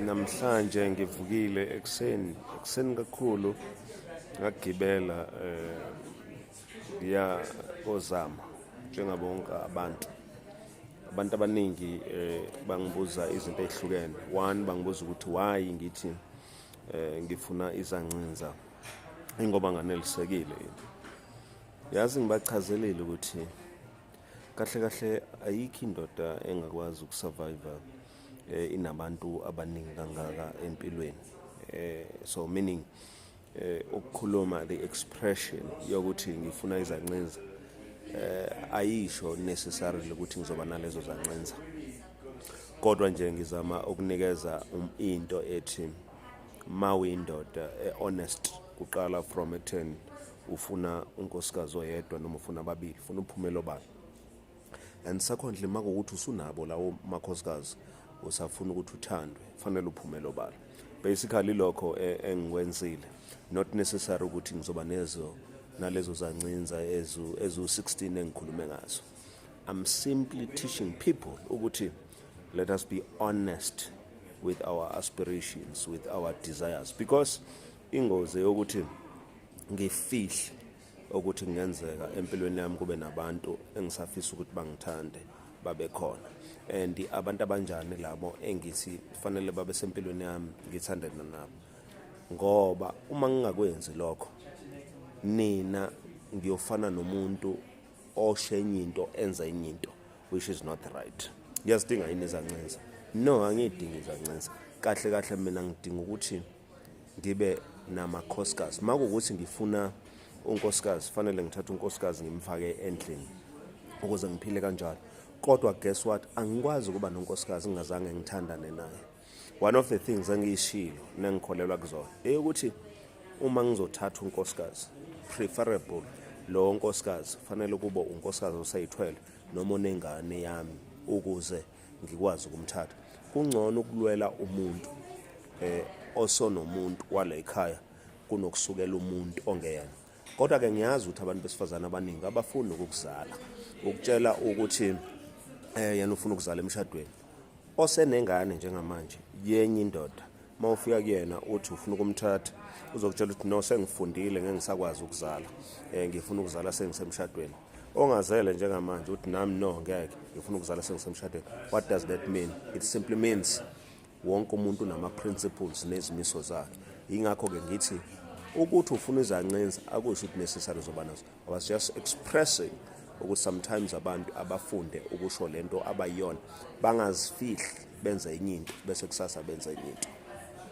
Namhlanje ngivukile ekuseni ekuseni kakhulu ngagibela eh ngiya kozama njengabo wonke abantu abantu abaningi eh bangibuza izinto ezihlukene one bangibuza ukuthi why ngithi eh ngifuna izancinza ingoba nganelisekile yazi ngibachazelile ukuthi kahle kahle ayikho indoda engakwazi ukusurvive eh, inabantu abaningi kangaka empilweni eh, so meaning eh, ukukhuluma the expression yokuthi ngifuna izancinza eh, ayisho necessarily ukuthi ngizoba nalezo zancinza kodwa nje ngizama ukunikeza um, into ethi ma uyindoda e-honest kuqala from ekutheni ufuna unkosikazi oyedwa noma ufuna ababili ufuna uphumelo bani and secondly makuwukuthi usunabo lawo makhosikazi usafuna ukuthi uthandwe fanele uphumele obala basically lokho e, engikwenzile not necessary ukuthi ngizoba nezo nalezo zancinza ezu-16 engikhulume ngazo i'm simply teaching people ukuthi let us be honest with our aspirations with our desires because ingozi yokuthi ngifihle ukuthi kungenzeka empilweni yami kube nabantu engisafisa ukuthi bangithande babe khona and abantu abanjani labo engithi fanele babe sempilweni yami ngithandana nabo ngoba uma ngingakwenzi lokho nina ngiyofana nomuntu oshe enye into enza enye into which is not right ngiyazidinga yini izancinza no angiyidingi izancinza kahle kahle mina ngidinga ukuthi ngibe namakhosikazi uma kuwukuthi ngifuna unkosikazi fanele ngithathe unkosikazi ngimfake endlini ukuze ngiphile kanjalo kodwa guess what angikwazi ukuba nonkosikazi ngingazange ngithandane naye one of the things engiyishilo nengikholelwa kuzona eyokuthi uma ngizothatha unkosikazi preferable lowo nkosikazi fanele kube unkosikazi oseyithwele noma onengane yami ukuze ngikwazi ukumthatha kungcono ukulwela umuntu eh osonomuntu wale ekhaya kunokusukela umuntu ongeyena kodwa ke ngiyazi ukuthi abantu besifazana abaningi abafuni ukuzala ukutshela ukuthi eh yena ufuna ukuzala emshadweni osenengane njengamanje yenye indoda uma ufika kuyena uthi ufuna ukumthatha uzokutshela ukuthi no sengifundile ngeke ngisakwazi ukuzala um ngifuna ukuzala sengisemshadweni ongazele njengamanje uthi nami no ngeke ngifuna ukuzala sengisemshadweni what does that mean it simply means wonke umuntu unama-principles nezimiso zakhe yingakho-ke ngithi ukuthi ufuna izancinza akusho ukuthi necessary zoba nazo i was just expressing ukuthi sometimes abantu abafunde ukusho le nto abayiyona bangazifihli benze enye into bese kusasa benze enye into